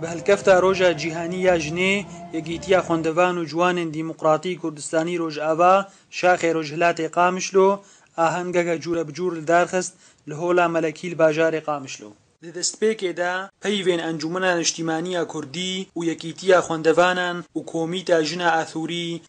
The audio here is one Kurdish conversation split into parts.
Bi hilkefta Roja Cîhanî ya Jinê, Yekîtiya Xwendevan û Ciwanên Dîmoqratî Kurdistanî Rojava, Şaxê Rojhilatê Qamişlo, ahengeke cûrebicûr li dar xist li Hola Melekî li bajarê Qamişlo. Di destpêkê de peyvên Encûmena Niştîmaniya Kurdî û Yekîtiya Xwendevanan û Komîta Jina Athûrî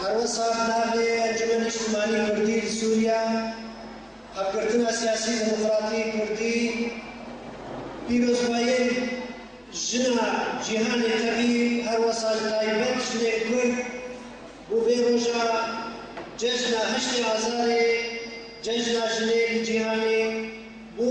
Her wiha di navê Encûmen Nîştimanî Kurdî li Sûriya, Hevgirtina Siyasî Demokratî Kurdî, pîrozbahiyên jina cîhanê tevî her wiha li taybet jinên Kurd bo vê roja cejna heştê Azarê, Cejna Jinê li Cîhanê bû.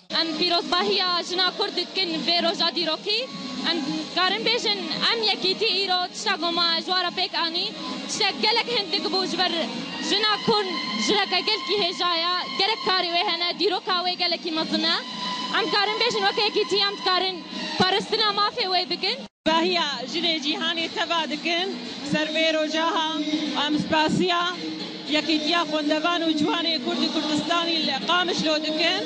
Em pîrozbahiya jina Kurd dikin vê roja dîrokî. Em dikarin bêjin em yekîtî îro tişta ku ma ji wan re pêk anî tiştek gelek hindik bû ji ber jina Kurd jireke gelkî hêja ye, gerek karî wê hene, dîroka wê gelekî mezin e. Em dikarin bêjin weke yekîtî em dikarin parastina mafê wê bikin. Dahiya jinê cîhanê teva dikin ser vê rojaha. Em spasiya Yekîtiya Xwendevan û Ciwanê Kurd û Kurdistanî li Qamişlo dikin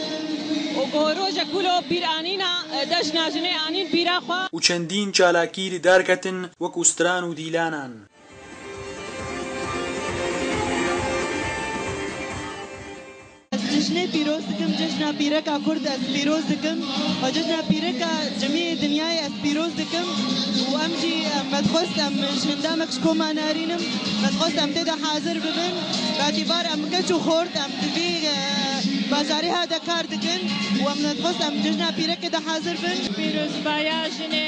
û ku roja ku lo bîranîna Dejna Jinê anîn bîra xwe. Û çendîn çalakî li dar ketin wek û stran û dîlanan. Cejnê pîroz dikim cejna pîreka kurd ez pîroz dikim û cejna pîreka cemiyê dinyayê ez pîroz dikim û em jî me dixwest em ji hindamek ji koma nerînim me dixwest em tê de hazir bibin betibar em keç û xort em di vî bajarê he de kar dikin û em me dixwest em cejna pîrekê de hazir bin. Pîrozbaya jinê.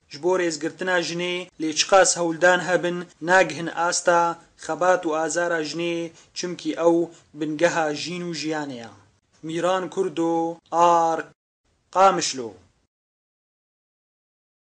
Ji bo rêzgirtina jinê lê çiqas hewldan hebin nagihin asta xebat û azara jinê çimkî ew bingeha jîn û jiyanê ya. Mîran Kurdo, arq. Qamişlo.